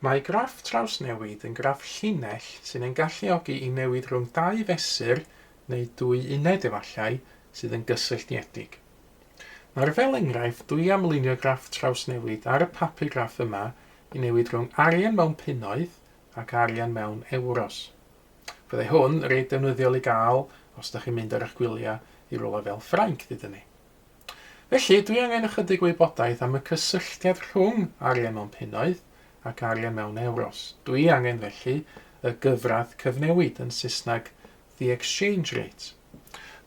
Mae graff trawsnewid yn graff llinell sy'n ein galluogi i newid rhwng dau fesur, neu dwy uned efallai, sydd yn gysylltiedig. Nawr fel enghraifft, dwi am lunio graff trawsnewid ar y papur graff yma i newid rhwng arian mewn punnoedd ac arian mewn ewros. Fyddai hwn reit ddefnyddiol i gael os da chi'n mynd ar eich gwyliau i rywle fel Ffrainc, dydyn ni. Felly, dwi angen ychydig wybodaeth am y cysylltiad rhwng arian mewn punnoedd ac arian mewn ewros. Dwi angen felly y gyfradd cyfnewid, yn Saesneg the exchange rate.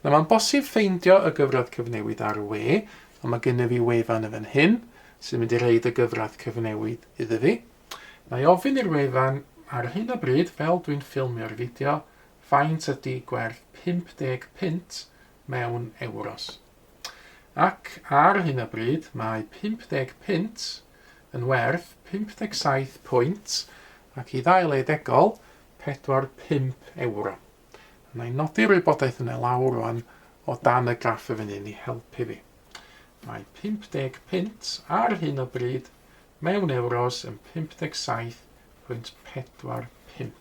Na, mae'n bosib ffeindio y gyfradd cyfnewid ar y we, ond mae gennyf fi wefan yn fan hyn sy'n mynd i reid y gyfradd cyfnewid iddo fi. Mae ofyn i'r wefan ar hyn o bryd, fel dwi'n ffilmio'r fideo, faint ydy gwerth 50 punt mewn ewros. Ac ar hyn o bryd mae 50 punt yn werth 57 pwynt ac i ddau le degol, 45 ewro. Wna i nodi'r wybodaeth yna lawr rwan o dan y graff y fynnyn i helpu fi. Mae 50 punt ar hyn o bryd Mewn ewros yn 57.45.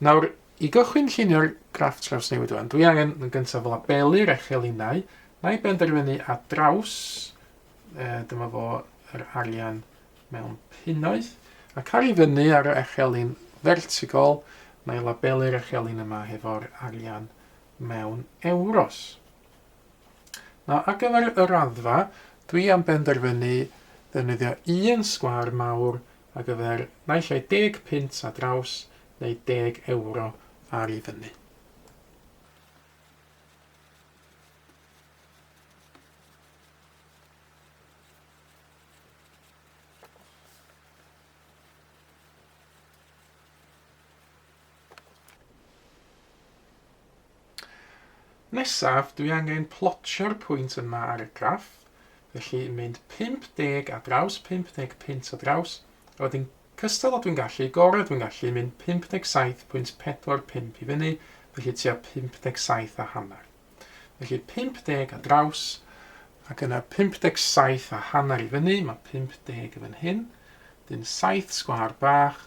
Nawr, i gychwyn llunio'r graff trawsnewid wan, dwi angen yn gyntaf labelu'r echelinau. Na i benderfynu a draws, e, dyma fo yr arian mewn punnoedd, ac ar i fyny ar y echelin fertigol, na i labelu'r echelin yma hefo'r arian mewn ewros. Nawr ar gyfer y raddfa, dwi am benderfynu ddefnyddio un sgwâr mawr ar gyfer naill ai deg punt ar draws neu deg ewro ar i fyny. Nesaf, dwi angen plotio'r pwynt yma ar y graff, felly mynd 50 ar draws 50 punt ar draws, a wedyn cystal â dwi'n gallu, gorau dwi'n gallu, mynd 57.45 i fyny, felly tua 57 a hanner. Felly 50 ar draws, ac yna 57 a hanner i fyny, mae 50 yn fan hyn, dyn 7 sgwâr bach,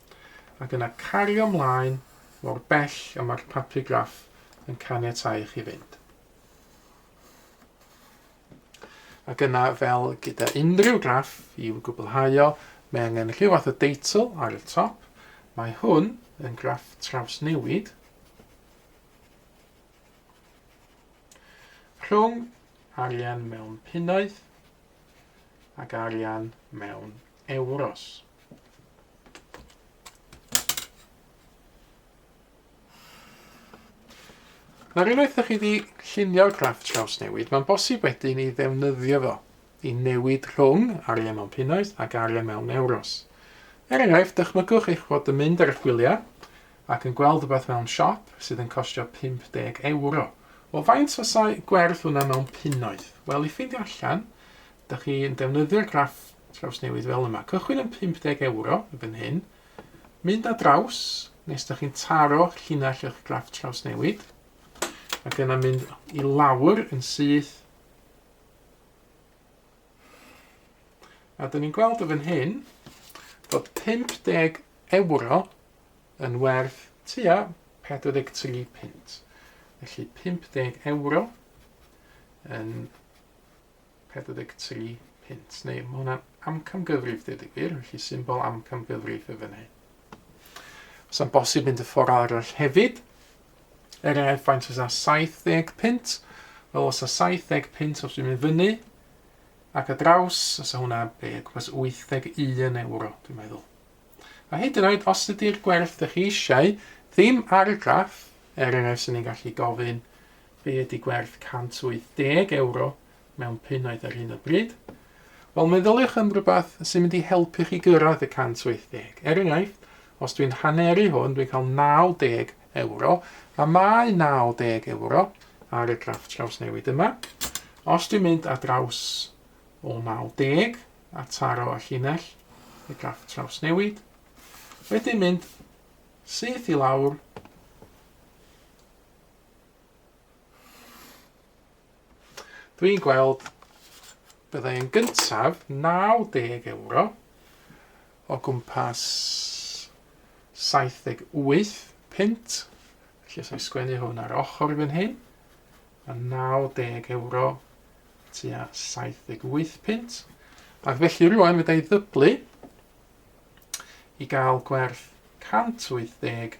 ac yna cario mlaen mor bell â mae'r papur graff yn caniatáu chi fynd. Ac yna, fel gyda unrhyw graff, i'w gwblhau o, mae angen rhyw fath o deitl ar y top. Mae hwn yn graff trawsnewid rhwng arian mewn punnoedd ac arian mewn euros. Nawr unwaith ydych chi wedi llunio'r graff trawsnewid, mae'n bosib wedyn i ddefnyddio fo i newid rhwng arian mewn punnoedd ac arian mewn euros. Er enghraifft, dychmygwch eich bod yn mynd ar eich gwyliau ac yn gweld rhywbeth mewn siop sydd yn costio 50 euro. Wel, faint fasai gwerth hwnna mewn punnoedd? Wel, i ffeindio allan, ydych chi'n defnyddio'r graff Trawsnewid fel yma. Cychwyn yn 50 ewro, yn fan hyn. Mynd a draws, nes da chi'n taro llinell eich graff trawsnewid. Ac yna mynd i lawr yn syth. A da ni'n gweld y fan hyn bod 50 ewro yn werth tua 43 pint. Felly 50 ewro yn 43 punt, neu mae hwnna'n amcamgyfrif dweud y gwir, felly symbol amcamgyfrif y fan hyn. Os am bosib mynd y ffordd arall hefyd, er enghraifft faint os a 70 punt, wel os a 70 punt os dwi'n mynd fyny, ac a draws, os a hwnna be, gwmpas 81 euro, dwi'n meddwl. A hyd yn oed, os ydy'r gwerth ydych chi eisiau, ddim ar y graff, er enghraifft sy'n ni'n gallu gofyn, Be ydy gwerth €180 mewn punnoedd ar hyn o bryd? Wel, meddyliwch am rhywbeth sy'n mynd i helpu chi gyrraedd y 180. Er enghraifft, os dwi'n haneru hwn, dwi'n cael €90, a mae €90 ar y graff trawsnewid yma. Os dwi'n mynd ar draws o 90 a taro y llinell, y graff trawsnewid, wedyn mynd syth i lawr Dwi'n gweld byddai yn gyntaf 90 euro o gwmpas 78 pint. Felly os o'i sgwennu hwn ar ochr fan hyn, a 90 euro tua 78 pint. Ac felly rwan fydda i ddyblu i gael gwerth 180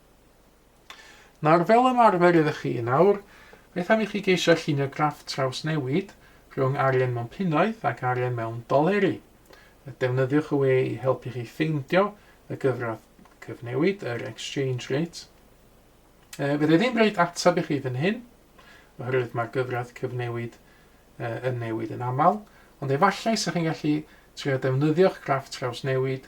Nawr, fel ymarfer ydych chi yn awr, beth am i chi geisio llunio graff trawsnewid rhwng arian mewn punnoedd ac arian mewn doleri. Defnyddiwch y we i helpu chi ffeindio y gyfradd cyfnewid, yr exchange rate. E, fydde ddim rhaid ateb i chi fan hyn, oherwydd mae'r gyfradd cyfnewid e, yn newid yn aml, ond efallai sa'ch chi'n gallu trio defnyddio'ch graff trawsnewid